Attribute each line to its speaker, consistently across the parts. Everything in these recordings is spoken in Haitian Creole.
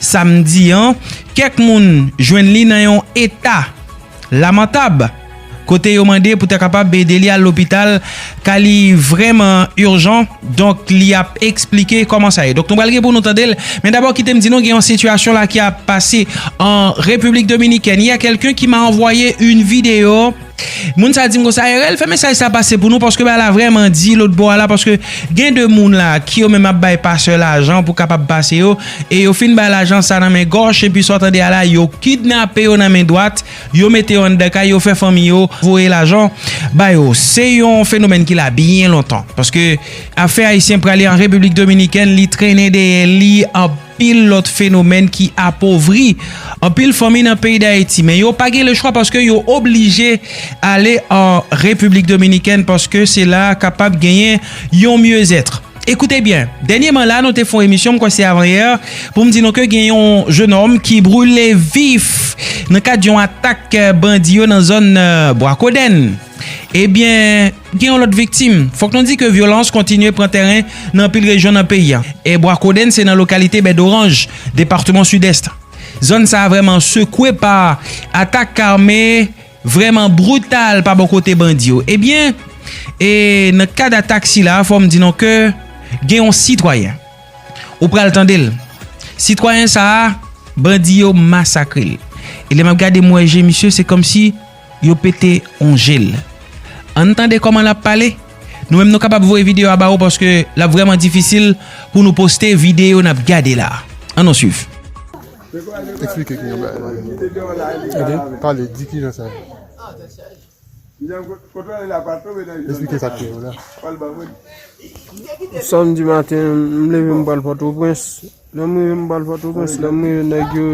Speaker 1: Samdi an, kèk moun jwenn li nan yon eta lamantab, kote yo mande pou ta kapab ede li al lopital ka li vrèman urjan, donk li ap eksplike kòman sa ye. Donk nou pral gen pou nou tande l, men dabò kite m di nou gen yon sitiyasyon la ki ap pase an Repiblik Dominikèn, il y a quelqu'un qui m'a envoyé une vidéo. Moun sa dim konsa RL fè mesaj sa pase pou nou paske bagay la vrèman di lòt bò a la paske gen de moun la ki yo menm ap bay pastè lajan pou kapab pase yo e yo fin bay lajan sa nan men gòch epi sa w tande a la yo kidnape yo nan men dwat yo mete yo anndan kay yo fè fanmi yo voye lajan ba yo se yon fenomèn ki la byen lontan paske afè ayisyen prale an repiblik dominikèn li trennen dèyè li anpil. anpil lòt fenomèn ki apovri anpil fanmi nan peyi Dayiti men yo pa gen le chwa paske yo oblije ale an Repiblik Dominikèn paske se la kapab genyen yon myezètr. Ekoute byen, dènyeman la nou te fon emisyon m kwè se avanyè pou m di nou ke gen yon jenòm ki brule vif nan kad yon atak bandi yo nan zòn Bwakodenn ebyen Gen yon lòt viktim. Fòk nou di ke vyolans kontinye pran tèren nan anpil rejyon nan peyi a. E Bwa Kodenn se nan lokalite Bèdoranj, departeman Sidès. Zòn sa a vrèman sekwe pa atak ame vrèman brital pa bò kote bandi yo. Ebyen, e nan kad atak sila a, fò m di nou ke gen yon sitwayen. Ou pral tande l. Sitwayen sa a, bandi yo masakre l. E lè m ap gade m wè je misye se kòmsi. Yo pete on jel. Ann tande koman lap pale. Nou menm nou kapab voye video a ba ou paske lap vreman difisil pou nou poste video nap gade la. An nou swiv.
Speaker 2: Explike ki yon bagay la menm. Ok pale di kijan sa ye. Explike sak te yo la.
Speaker 3: Samdi maten m leve m pral pòtoprens. Lè m rive m bal pòtoprens lè m rive nèg yo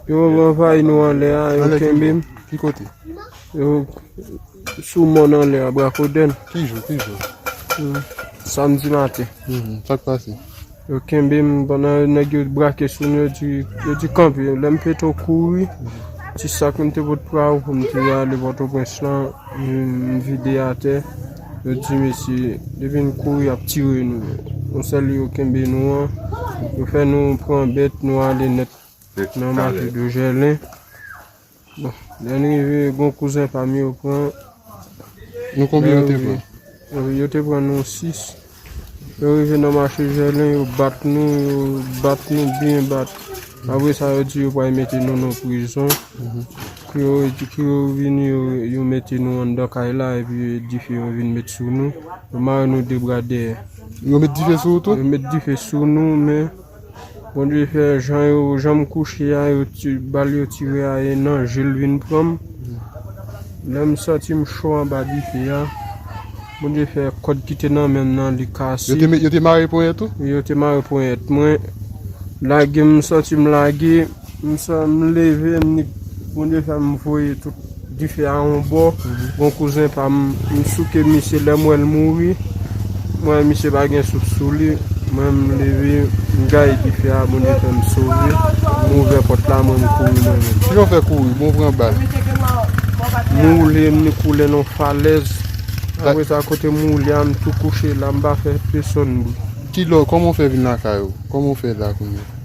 Speaker 3: yo anvayi nou anlè a yo kenbe m ki kote
Speaker 2: yo
Speaker 3: sou mòn anlè a brakoden ki jou ki jou
Speaker 2: samdi
Speaker 3: maten sak pase
Speaker 2: yo kenbe
Speaker 3: m pandan nèg yo brake sou m yo di yo di kanpe lè m fete kouri ti sak m te pot pou m te ale pòtoprens lan. M vide atè yo di mesye depi n kouri yap tire nou nou sèl yo kenbe nou an yo fè nou pran bèt nou ale nèt nan mate do jèlen bon lè n rive gon kouzen pa m yo pran
Speaker 2: yo te pran nou
Speaker 3: 6 Yo rive nan mache Jèlen, yo bat nou, yo bat nou byen bat. Apre sa yo di yo pral mete nou nan prizon. Kou yo di, kou yo vini, yo mete nou anndan kay la epi dife yo vin met sou nou. Yo mare nou de bra dèyè. Yo met dife
Speaker 2: sou ou tou? Yo met dife sou
Speaker 3: nou men. Bondye fè jan yo janm kouche a yo ti bal yo tire a e nan jel vin pranm lèm santim cho anba dife a Bondye fè kòd kite nan menm nan li kase yo te mare ponyèt
Speaker 2: ou yo te mare ponyèt
Speaker 3: mwen lagem m santim lage. M san m leve m nik Bondye fè m voye tout dife a yon bò Yon kouzen pa m m souke misye lè m wè l mouri m wè misye pa gen souf sou li mwen m leve m gaye dife a Bondye fè m sove m ouvè pòt la mwen m kouri mwen menm. Kijan w fè kouri
Speaker 2: bon w pran bal? M
Speaker 3: woule m nik woule nan yon falèz apre sa kote m woule a m tou kouche la m pa fè pesonn bri. Kilè w kòman
Speaker 2: w fè vin lakay ou? Kòman w fè la kounye a?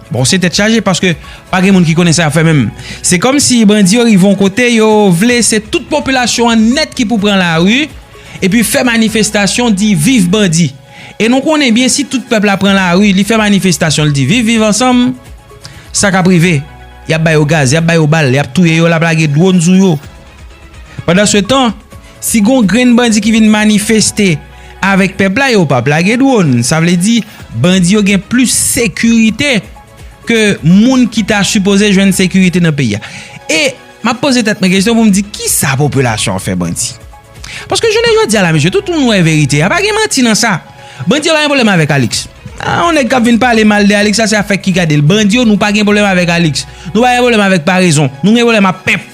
Speaker 1: Bon se tèt chaje paske pa gen moun ki konnen sa y ap fè menm. Se kòm si bandi yo rive yon kote yo vle se tout popilasyon an nèt ki pou pran lari epi fè manifestasyon di viv bandi. E nou konnen byen si tout pèp la pran lari li fè manifestasyon li di viv viv ansanm sa k ap rive y ap ba yo gaz y ap ba yo bal y ap touye yo l ap lage dwòn sou yo. Pandansetan, si gon grenn bandi ki vin manifeste avèk pèp la yo pap lage dwòn. Sa vle di bandi yo gen plis sekirite ke moun ki ta sipoze jwenn sekirite nan peyi a. E map poze tèt mwen kesyon pou m di kisa popilasyon an fè bandi? Paske jounen jodi a la mesye tout moun wè verite a pa gen manti nan sa. Bandi yo pa gen pwoblèm avèk Alix. A yon nèg kap vin pale mal de Alix la se afèk ki gade l. Bandi yo nou pa gen pwoblèm avèk Alix. Nou pa gen pwoblèm avèk parezon. Nou gen pwoblèm ak pèp.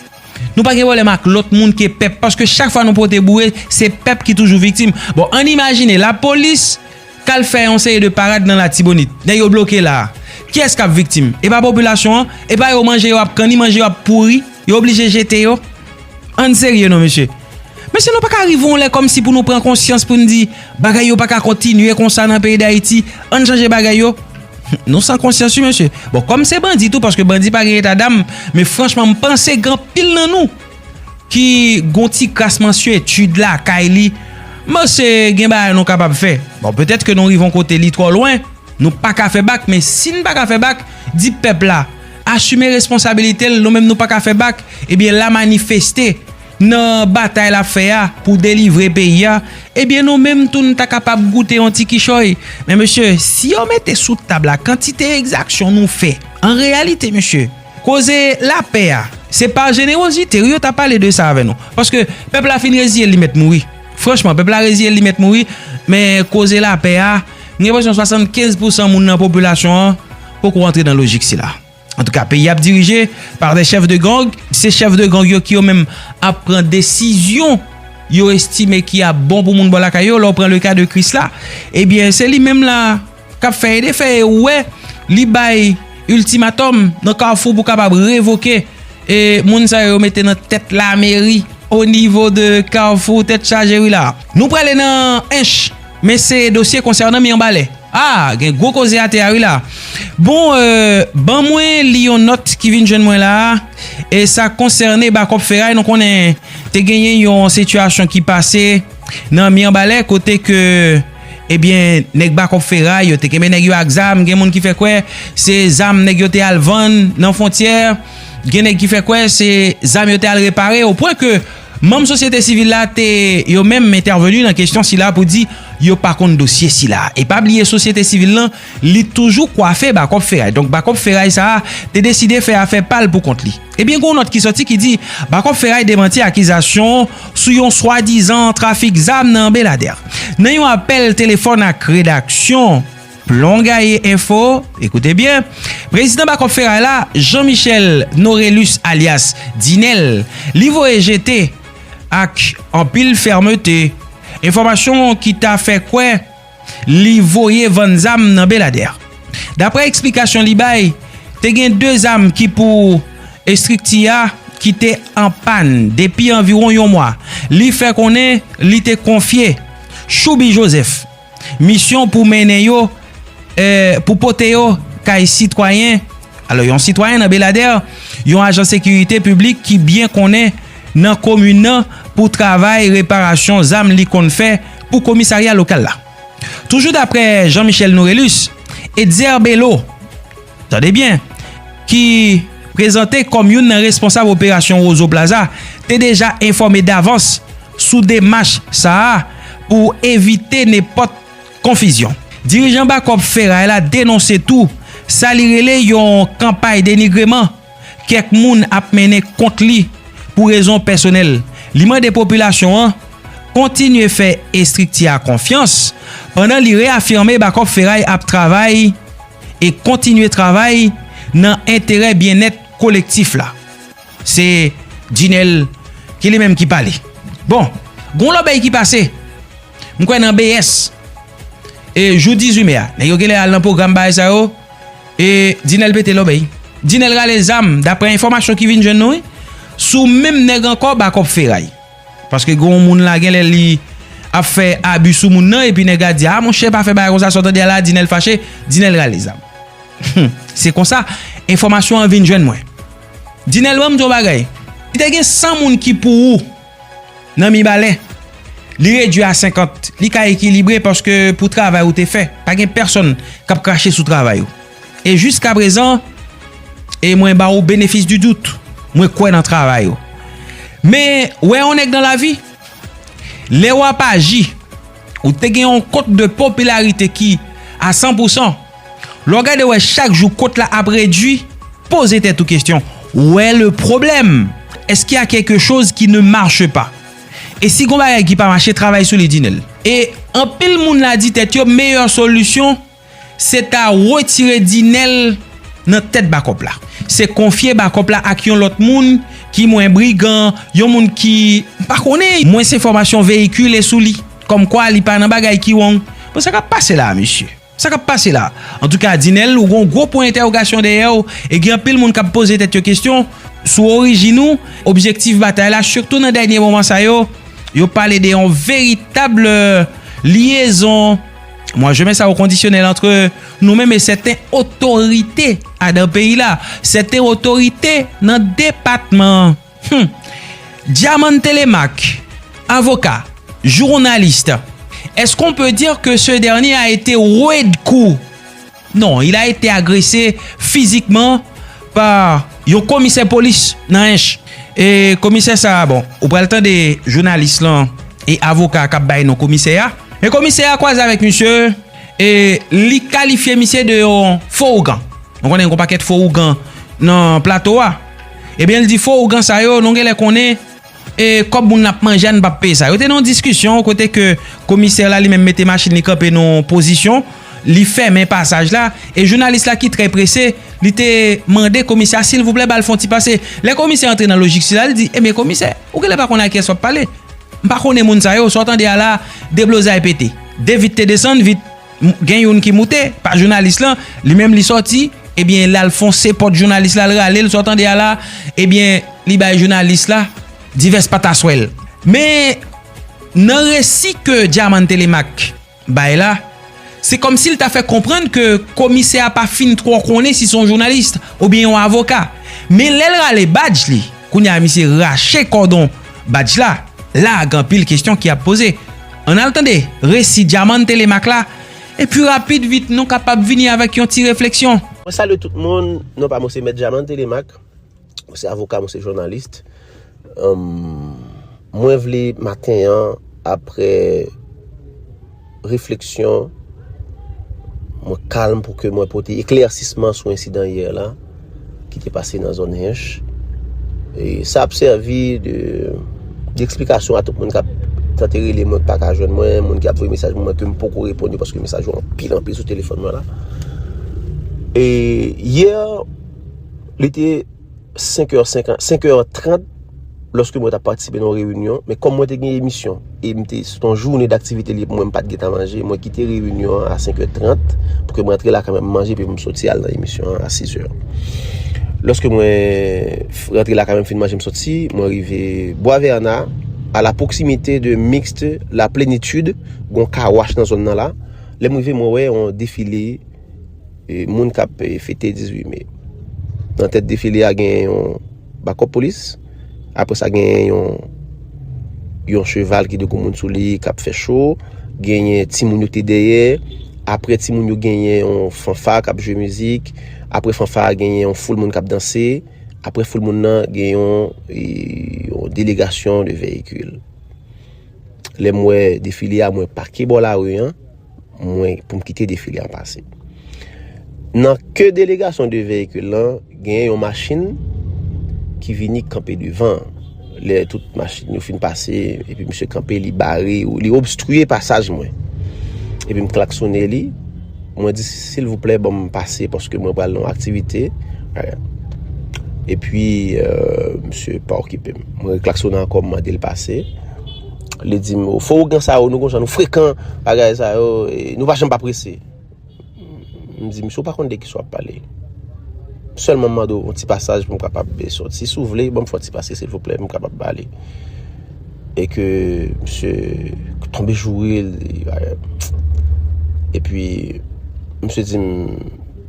Speaker 1: Nou pa gen pwoblèm ak lòt moun ke pèp paske chak fwa nou pote boure se pèp ki toujou viktim. Bon ann imajine lapolis k al fè yon seri de parad nan Latibonit. Nèg yo bloke la a. Kiyès k ap viktim? E pa popilasyon an? E pa yo manje yo ap kanni, manje yo ap pouri, yo oblije jete yo? Ann serye non mesye. Mesye nou pa ka rive yon lè kòmsi pou nou pran konsyans pou n di bagay yo pa ka kontinye konsa nan peyi Dayiti, ann chanje bagay yo. Nou san konsyans wi mesye. Bon kòm se bandi tou paske bandi pa gen eta dam men franchman m panse gen anpil nan nou ki gon ti kras mansyetid lakay li m panse gen bagay nou kapab fè bon petèt ke nou rive yon kote li twò lwen nou pa ka fè bak men si n pa ka fè bak di pèp la asime responsabilite l nou menm nou pa ka fè bak ebyen la manifeste. nan batay l ap fè a pou delivre peyi a, ebyen nou menm tou n ta kapab goute yon ti kichòy. Men mesye, si yo mete sou tab la kantite egzaksyon nou fè, an reyalite mesye, koze lapè a, se pa jenewozite wi yo ta pale de sa avè nou. Paske pèp la fin reziye l li mèt mouri. Franchman, pèp la reziye l li mèt mouri, men koze lapè a, m gen enpresyon 75 pousan moun nan popilasyon an poko antre nan lojik sila. Antouka peyi ap dirije par de chèf de gang, se chèf de gang yo ki yo menm ap pran desizyon yo estime ki ap bon pou moun bò lakay yo, lè w pran le ka de Krisla ebyen se li menm la kap fè e defè e ou wè li bay iltimatòm nan kafou pou kapab revoke e moun sa yo mete nan tèt lameri o nivo de kafou tèt chaje wi la. Nou prale nan Ench. Men se dosye konsènan Mirbalè. Ah gen gwo koze atè a wi la. Bon euh ban mwen li yon nòt ki vin jwenn mwen la a e sa konsène bakòp feray nou konnen te genyen yon sitiyasyon ki pase nan Mirbalè kote ke ebyen nèg bakòp feray yo te kenbe nèg yo ak zam gen moun ki fè kwè se zam nèg yo te al vann nan fontyè gen nèg ki fè kwè se zam yo te al repare o pwen ke Manm sosyete sivil la te yo menm entèveni nan kesyon sila pou di yo pa konn dosye sila. E pa bliye sosyete sivil lan li toujou kwafe Bakòp Feray. Donk Bakòp Feray sa a te deside fè afè pa l pou kont li. Ebyen gen yon nòt ki sòti ki di Bakòp Feray demanti akizasyon sou yon swadizan trafik zam nan Beladè. Nan yon apèl telefòn ak redaksyon. Plon gaye enfo, ekoute byen, prezidan bakòp feray la, Jean Michel Norelus alyas Dinel, li voye jete ak anpil fèmete, enfòmasyon ki ta fè kwè li voye vann zam nan Beladè. Daprè eksplikasyon li bay, te gen 2 zam ki pou estrikti a ki te an pàn depi anviwon yon mwa. Li fè konnen li te konfye Chouby Joseph, Misyon pou mennen yo, pou pote yo kay sitwayen, alò yon sitwayen nan Beladèr, yon ajan sekirite piblik ki byen konnen nan komin nan pou travay reparasyon zam li konn fè pou komisarya lokal la. Toujou daprè Jean Michel Nourelus, Etzer Bello, tande byen, ki prezante kòm youn nan responsab operasyon Rozo Plaza, te deja enfòme davans sou demach sa a pou evite nenpòt konfizyon. Dirijan Bakòp Feray la denonse tou sa li rele yon kanpay denigreman kèk moun ap mennen kont li pou rezon pèsonèl. Li mande popilasyon an kontinye fè estrikti a konfyans pandan li reyafime Bakòp Feray ap travay e kontinye travay nan enterè byennèt kolektif la. Se Djinèl ki li menm ki pale. Bon, gon lòbèy ki pase, m kwè nan BS, e jou 18 me a, nèg yo gen lè al nan pwogram bagay sa yo, e Djinèl pete lòbèy. Djinèl rale zam, daprè enfòmasyon ki vin jwenn nou wi, sou menm nèg ankò Bakòp Feray. Paske gen yon moun la gen lè li ap fè abi sou moun nan epi nèg la di a monchè pa fè bagay konsa sa w tande a la di nèl fache di nèl rale zam humm se konsa enfòmasyon an vin jwenn mwen di nèl ban m di w yon bagay si te gen 100 moun ki pou ou nan mibalè li redwi a 50 li ka ekilibre paske pou travay ou te fè pa gen pèsonn k ap krache sou travay ou. E jiska prezan, e mwen ba ou benefis di dout, mwen kwè nan travay ou. Men, wè yon nèg nan lavi, lè w ap aji, ou te gen yon kot de popilarite ki a san pou san, lè w gade wè chak jou kot la ap redui, poze tèt ou kesyon, ou è le pwoblèm? Èske y a kèlke choz ki ne marche pa? E si gon bagay ki pa mache, travay sou li Dinel. E anpil moun la di tèt yo meyè solisyon, Se ta retire Dinel nan tèt bakòp la. Se konfye bakòp la ak yon lòt moun ki mwen brigan, yon moun ki m pa konnen, mwens enfòmasyon veyikile sou li, kòmkwa li pa nan bagay ki wong. Bon sa k ap pase la a mesye? Sa k ap pase la a? Antouka Dinel ou gen yon gwo pwen entèwogasyon dèyè w e gen anpil moun k ap poze tèt yo kesyon sou orijin ou, objektif batay la, sitou nan dènye moman sa yo, yo pale de yon veritab lyezon. Mwa je men sa ou kondisyonèl antre nou menm e sèten otorite a dan peyi la, sèten otorite nan depatman an. Hum! Dyamann Telemak, avoka, journaliste, est-ce qu'on peut dire que ce dernier a été rude coup? Non, il a été agressé physiquement par yon komisè polis nan Ench. E komisè sa a, bon, ou pral tande jounalis lan e avoka a k ap bay non komisè a. Men komisè a kwaze avèk misye e li kalifye misye de yon fo ougan. Nou konnen gen yon pakèt fo ougan nan plato a. Ebyen li di fo ougan sa yo nou gen lè konnen. E kòb moun ap manje a n pap peye sa. Yo te nan yon diskisyon kote ke komisè la li menm mete machin li kanpe nan yon pozisyon, li fèmen pasaj la e jounalis la ki trè prese li te mande komisè a silvouplè ba l fon ti pase. Lè komisè antre nan lojik sila li di ebyen komisè ou genlè pa konnen ak kiyès w ap pale. M pa konnen moun sa yo, sa w tande a la deblozay pete. 2 vit te desann vit. Gen youn ki moute, pa jounalis lan, li menm li sòti, ebyen l al fonse pòt jounalis la, l rale l, sa w tande a la, ebyen li bay jounalis la divès pataswèl. Men, nan resi ke Dyamann Telemak bay la, se kòm si l ta fè konprann ke komisè a pa fin twò konnen si se yon jounalis oubyen yon avoka. Men lè l rale badj li, kounye a misye rache kòdon. Badj la, la a gen anpil kesyon ki ap poze. Ann al tande resi Dyaman Telemaque la, epi rapid vit nou kapab vini avèk yon ti refleksyon. Mwen salye tout moun,
Speaker 4: non pa mwen se Mèt Dyaman Telemaque, mwen se avoka, mwen se jounalist. Mwen vle maten an apre. refleksyon, mwen kalm pou ke mwen pote eklersisman sou ensidan yè la, ki te pase nan zon Hinch. E sa ap servi de eksplikasyon a tout moun kap tante rele mwen pa ka jwenn mwen, moun ki ap voye mesaj mwen ke m poko repon yo paske mesaj yo anpil anpil sou telefon mwen la. E yè, li te... 5 è 50, 5 è 30, lòske mwen ta patisipe nan reyinyon, men kòm mwen te gen emisyon, e mwen te, se ton jounen d'aktivite liye pou mwen, mwen pat geta manje, mwen kite reyinyon an a 5 è 30, pou ke mwen antre la kame manje, pi mwen soti al nan emisyon an a 6 è. Lòske mwen antre la kame mwen fin manje mwen soti, mwen rive Boisverna, a la pwoksimite de Mixte, la Plenitude, gon car wash nan zòn nan la, lè mwen rive mwen wè yon defile, Moun k ap fete 18 me. Nan tèt defile a gen yon bakop polis. Apre sa gen yon yon cheval ki dekou moun sou li k ap fè cho. Gen yon ti moun yo te deye. Apre ti moun yo gen yon fanfa k ap jwe mizik. Apre fanfa a gen yon foul moun k ap danse. Apre foul moun nan gen yon delegasyon de veyikil. Lè mwen defile a mwen pake bo la ri an. mwen pou m kite defile an pase. Nan ke delegasyon de veyikil lan, gen yon machin ki vini kanpe devan. Lè tout machin yo fin pase, epi msye kanpe li bare, li obstruye pasaj mwen. Epi m klaksone li, mwen di sil vouplè banm pase paske mwen pral nan aktivite. Epi euh, msye pa okipe m. Mwen reklaksone ankò m mande l pase. Li di m, fo ougan sa yo, nou konsa nou frekan, bagay sa yo, nou pa janm pa prese. M di, misye ou pa konn de ki sa w ap pale. M sèlman mande ou yon ti pasaj pou m kapab de soti. Si ou vle, ban m fè yon ti pase silvouplè pou m kapab pale. E ke misye tonbe joure, li bagay. E pi, misye di m,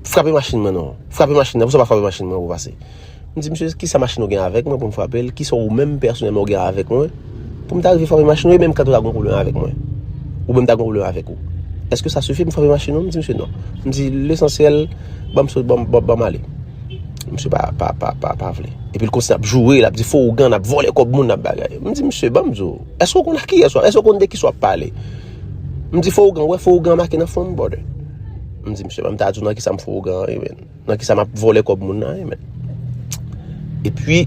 Speaker 4: frape machin mwen non. Frape machin nan, pou sa w pa frape machin mwen pou w pase. M di misye kisa machin ou gen avèk mwen pou m frape l, kisa ou menm pèsonèlman ou gen avèk mwen pou m ta rive frape machin ou e menm kantè w ta gen yon pwoblèm avèk mwen ou menm ta gen yon pwoblèm avèk ou. Èske sa sifi pou m frape machin ou? M di misye non. M di lesansyèl ban m sot ban m ale. Misye pa vle. Epi l kontinye ap joure, l ap di fo ougan, l ap vòlè kòb moun, l ap bagay. M di misye ban m di w, èske ou konn a kiyès w ap, èske ou konn de kisa w ap pale? M di fo ougan, ou wè fo ougan make nan fwon m brother? M di misye ban m ta di w nan kisa m fo ougan an rive. Nan ki sa map vole kob moun nan e men. E pwi,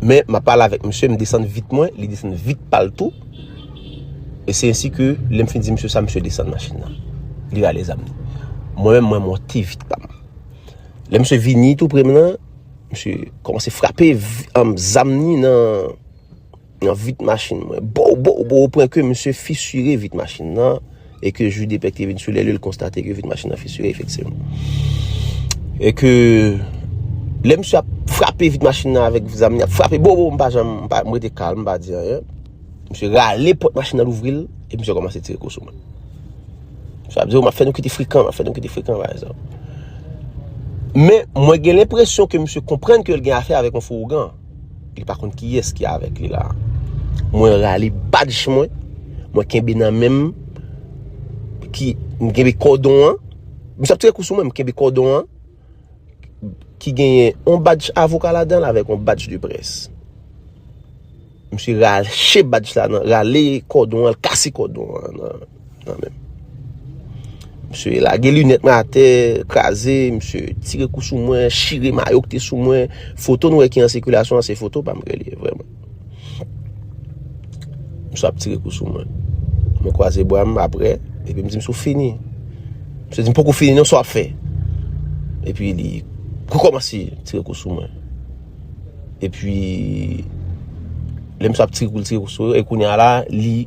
Speaker 4: men map pale avek misye, m desann vit mwen, li desann vit pal tou. E se ensi ke lem fin di misye sa, misye desann machin nan. Li rale zam li. Mwen men mwen monte vit pa m. Lem se vini tou pre m nan, misye komanse frape zam ni nan. Nan vit machin mwen. Bow bow bow o pwen ke misye fisire vit machin nan e ke ju de pèk te vin sou lè li l konstate ke vit machin nan fisire efektivman. E ke lè misye ap frape vit machin nan avèk zam li ap frape bow bow m pa janm m pa m rete kalm m pa di anyen. Misye rale pòt machin nan l ouvri l e misye kòmanse tire kou sou mwen. Sa vle di w m ap fè nou kite frekan m ap fè nou kite frekan pa egzanp. Men mwen gen lenpresyon ke misye konprann ke l gen afè avèk yon fou ougan. Li pa konn ki yes ki avek li la. Mwen rale badj mwen. Mwen kenbe nan menm. Ki mwen kenbe kodon an. Mwen sap tire kousou mwen mwen kenbe kodon an. Ki genyen on badj avoka la dan la vek on badj de pres. Mwen si rale badj la nan. Rale kodon an. Kase kodon an nan. Msye lage lunet mwen atè, kraze, msye tire kou sou mwen, chire mayo ki te sou mwen, foto nou e ki an sikulasyon an se foto pa mwen li e vreman. Msye ap tire kou sou mwen, mwen kwaze bwa mwen apre, epi msye msye fini. Msye di mwen poko fini non sa wap fe. Epi li kou kou mwen si tire kou sou mwen. Epi lè msye ap tire kou tire kou sou mwen, e kou ni ala li.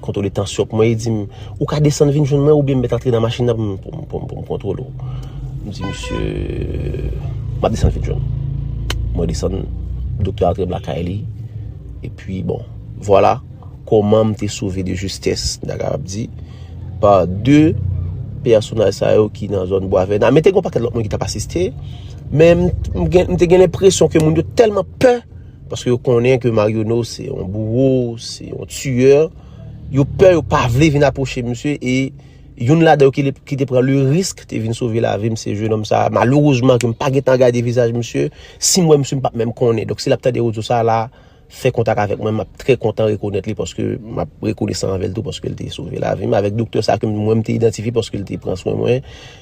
Speaker 4: Kontwole tansyon pou mwen, li dim, ou ka desann vin jwenn mwen oubyen m met antre nan machin nan pou m kontwole w. M di misye, m ap desann vin jwenn ou. Mwen desann, doktè antre m lakay li, epi bon, vwala kòman m te sove de jistès, m ta kapab di, pa de pèsonaj sa yo ki nan zòn bwa vèna. Men te gen yon pakèt lòt moun ki t ap asiste, men m te gen lenpresyon ke moun yo tèlman pè. Paske yo konnen ke Maryono se yon bouro, se yon tiyè. Yo pè, yo pa vle vin aproche misye. E yon lade yo ki te pran le risk te vin sove la vim se je nom sa. Malourezman ke m pa getan gade vizaj misye. Si m wè misye m pa menm konnen. Dok si lap tande ozo sa la, fè kontak avèk mwen. Map trè kontan rekonèt li paske map rekonesan avèl tou paske l te sove la vim. Avèk doktè sa ke mwen m te identifi paske l te pran swen mwen.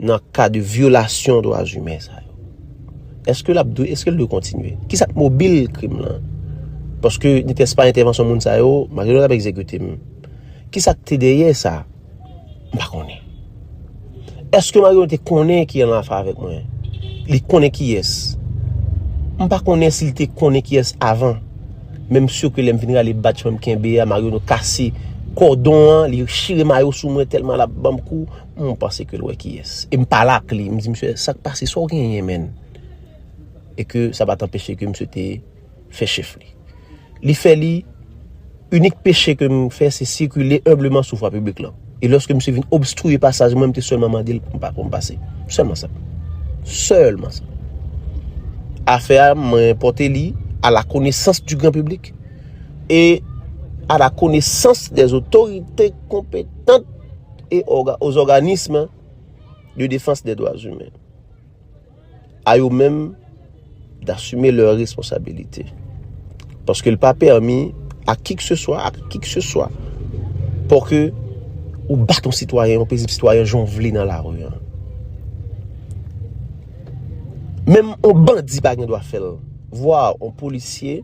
Speaker 4: nan ka de vyolasyon dwa zume sa yo? Eske lap dwe, eske l dwe kontinye? Ki sa k mobil krim lan? Paske ni te espa entèvansyon moun sa yo, ma gen lè ap ekzekute m. Ki sa k te dèyè sa? M pa konnen. Eske ma gen lè te konnen ki an afe avèk mwen? Li konnen ki es? M pa konnen si li te konnen ki es avan. Men m sure lè m vin rale batch mwen m kenbe a, ma gen lè kase kòdon an, li chire mayo sou mwen tèlman lap banm kou. Mwen panse ke l wè kiyès. E m pale ak li, m di msye, sa k pase, sa w genyen menn? E ke sa pa t anpeche ke msye te fè chèf li. Li fè li, inik peche ke m fè, se sikile enbleman sou vwa piblik lan. E lòske msye vin obstriye pasaj mwen, m te sèlman mande l pou m pase. Sèlman sa. Sèlman sa. Afè a, mwen pote li a la konesans di gran piblik e a la konesans de zotorite kompetant. et aux organismes de défense des droits humains a yo menm d'assumer leurs responsabilités paske l pa pèmi a ki k se swa a ki k se swa pou ke ou bat yon sitwayen yon pezib sitwayen jan w vle nan lari an menm yon bandi pa gen dwa fè l vwa yon polisye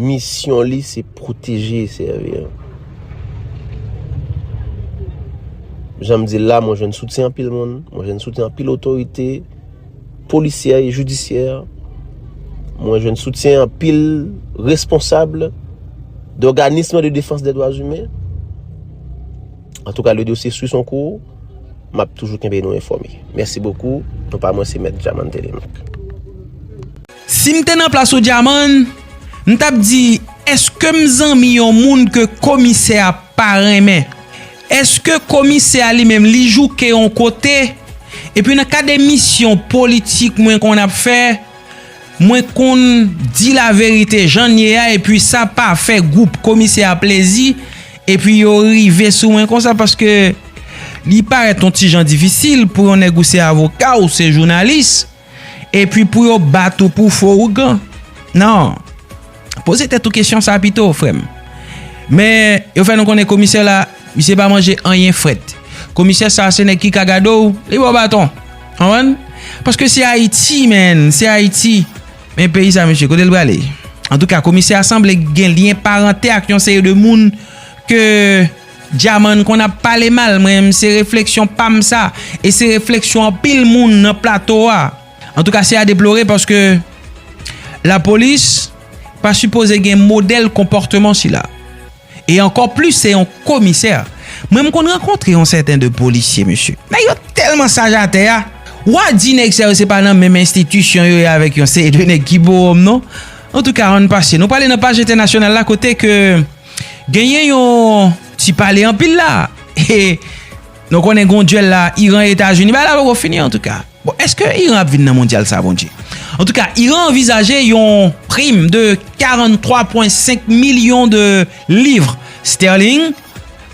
Speaker 4: Misyon li se pwoteje e sèvi. Jan m di l la, mwen jwenn soutyen anpil moun, mwen jwenn soutyen anpil otorite, polisyè e jidisyè, mwen jwenn soutyen anpil responsable d'organisme de défense des droits humains. An tou ka, le dosye sou son kou, m ap toujou kenbe nou enfòme. Mèsi bokou, nou pa mwen se mèt Djaman Télémaque.
Speaker 1: Si m te nan plas ou Dyamann, m t ap di èske m zanmi yon moun ke komisè a pa renmen? Èske komisè a li menm li jouke yon kote? Epi nan kad emisyon politik mwen konn ap fè, mwen konn di laverite jan l ye a epi sa pa fè gwoup komisè a plezi epi yo rive sou mwen konsa paske li parèt yon ti jan difisil pou yon nèg ou se avoka ou se jounalis Epi pou yo bat ou pou fo ougan? Non. Poze tèt ou kesyon sa pito, frè m. Men, yo fè nou konnen komisè la, misye pa manje anyen frèt. Komisè sa a se nèg ki ka gade w, li ba w baton. Konprann? Paske se Ayiti, men, se Ayiti. Men peyi sa a mesye, kote l prale? Antouka, komisè a sanble gen lyen parantè ak yon seri de moun ke Djamann konn ap pale mal mwen menm se refleksyon pam sa e se refleksyon anpil moun nan plato a antouka se a deplore paske la polis pa sipoze gen modèl konpòteman sila e ankò plis se yon komisè mwen m konn rankontre yon sèten de polisye mesye nèg yo tèlman saj atè a wa di nèg sa yo se pa nan menm enstitisyon yo ye avèk yon seri de nèg ki bowòm non antouka ann pase nou prale nan paj entènasyonal la kote ke. Genyen yon ti pale anpil la e nou konnen gon dyèl la Iran Etazini bagay la poko fini antouka. Bon eske Iran ap vin nan mondyal sa bondje? Antouka Iran anvizaje yon prim de 43.5 milyon de livres sterling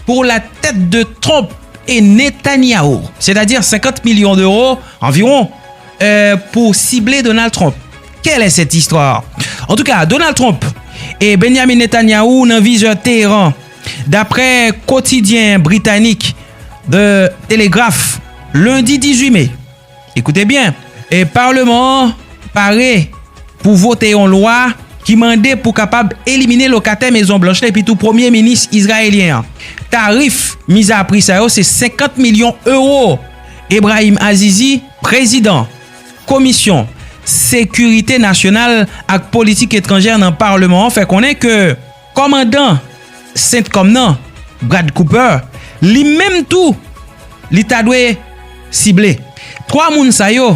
Speaker 1: pou la tèt de Trump e Netanyahu, sètadi 50 milyon deuro anviron, pou sible Donald Trump. Quelle est cette histoire? Antouka, Donald Trump e Benjamin Netanyahu nan vizè Teheran, daprè kotidyen britanik The Telegraph, lendi 18 me. Ekoute byen, e parleman an pare pou vote yon lwa ki mande pou kapab elimine lokatè Mezon Blanch la epitou premye minis izrayelyen an. Tarif mizapri sa yo se 50 milyon ewo. Ebrahim Azizi, prezidan. Komisyon Sekirite Nasyonal ak Politik Etranjè nan Parleman an fè konnen ke kòmandan Centcom nan, Brad Cooper, li menm tou li ta dwe sible. 3 moun sa yo,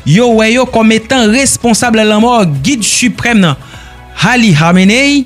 Speaker 1: yo wè yo kòm etan responsab lanmò Gid Siprèm nan, Ali Khamenei,